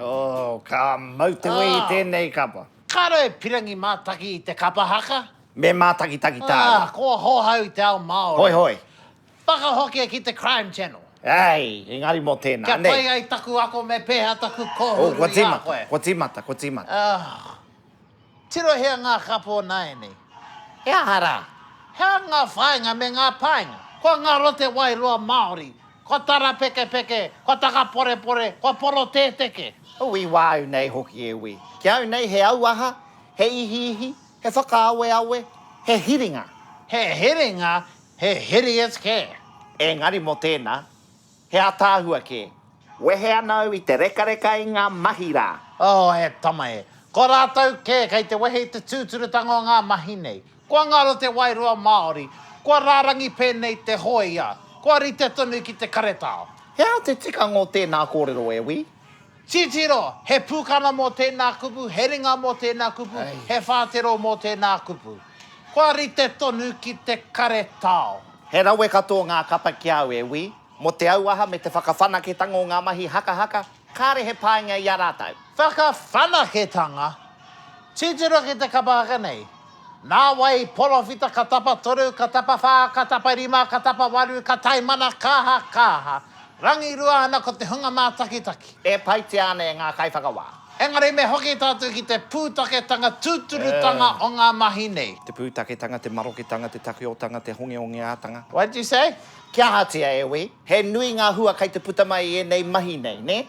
Oh, ka mau te wē i tēnei kapa. Kāre e pirangi mātaki i te kapa haka. Me mātakitaki tāna. Ah, ko Hohau i te ao Māori. Hoi hoi. Whakahokia ki te Crime Channel. Ei, engari mō tēnā, nei. Kia pai ai taku ako me pēhea taku kōhuru i a koe. Kua tīmata, kua tīmata, kua tīmata. Ah. Tirohia ngā kapo nāianei. He aha rā? He aha ngā whāinga me ngā painga? Ko ngā rote wairoa Māori, ko tarapekepeke, ko takaporepore, ko porotēteke. Ui wā au nei hoki e wī. Ki au nei he auaha, he ihiihi, he whakaaweawe, he hiringa. He hiringa, he hideous kē. Engari mō tēnā. He ataahua kē. Wehe ana au i te rekareka i ngā mahi rā. Oh, he tama e. Ko rātou kē kei te wehe i te tūturutanga o ngā mahi nei. Kua ngaro te wairua Māori. Kua rārangi pēnei te hōia. Kua rite tonu ki te karetao. He aha te tikanga o tēnā kōrero e Wī? Titiro, he pūkana mō tēnā kupu, he ringa mō tēnā kupu, he whātero mō tēnā kupu. Kua rite tonu ki te karetao. He rawe katoa ngā kapa ki a au, e wī. Mō te auaha me te whakawhanaketanga o ngā mahi hakahaka, kāre he painga i a rātou. Whakawhanaketanga, titiro ki te kapa haka nei. Nā wai, porowhita ka tapa toru, ka tapa whā, ka tapa rima, ka tapa waru, ka taimana, kāha, kāha. Rangirua ana ko te hunga mātakitaki. E paitia ana e ngā kaiwhakawā. Engari me hoki tātou ki te pūtaketanga tūturutanga o ngā mahi nei. Te pūtaketanga, te maroketanga, te takiotanga, te hongeongeātanga. What did you say? Kia ahatia e wī? He nui ngā hua kai te puta mai i ēnei mahi nei, nē?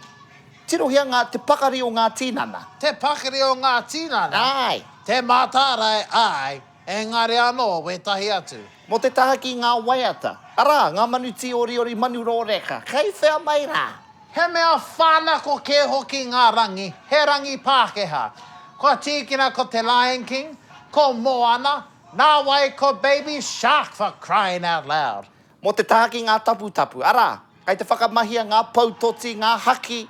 Tirohia ngā te pakari o ngā tīnana. Te pakari o ngā tīnana. Āe. Te mātārae, āe, engari anō wētahi atu. Mō te taha ki ngā waiata. Arā, ngā manu tīoriori, manu rōreka. Kei whea mai rā? He mea whānako kē hoki ngā rangi, he rangi Pākehā. Kua tīkina ko te Lion King, ko Moana, nāwai ko Baby Shark for crying out loud. Mō te taha ki ngā taputapu, arā, kei te whakamahia ngā pou toti, ngā haki,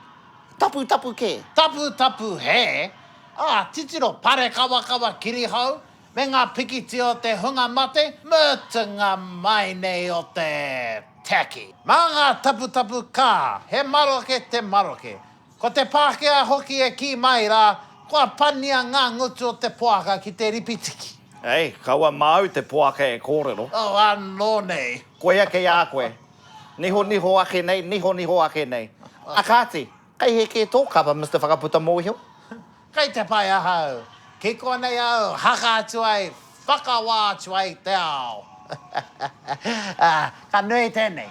taputapu kē. Taputapu hē, ā, titiro parekawakawa kirihou, me ngā pikitia o te hunga mate, mutunga mai nei o te tacky. Mā ngā taputapu kā, he maroke te maroke, Ko te Pākehā hoki e kī mai rā, kua pania ngā ngutu o te poaka ki te ripitiki. Hei, kaua māu te poaka e kōrero. Oh, anō nei. Koia kei a koe. Nihoniho ake nei, nihoniho ake nei. Ā kāti, kei hē kē tō kapa, Mister Whakaputa Mōhio? Kei te pai ahau. Ki konei au, haka atu ai, whakawā atu ai te ao. Ā, ka nui tēnei.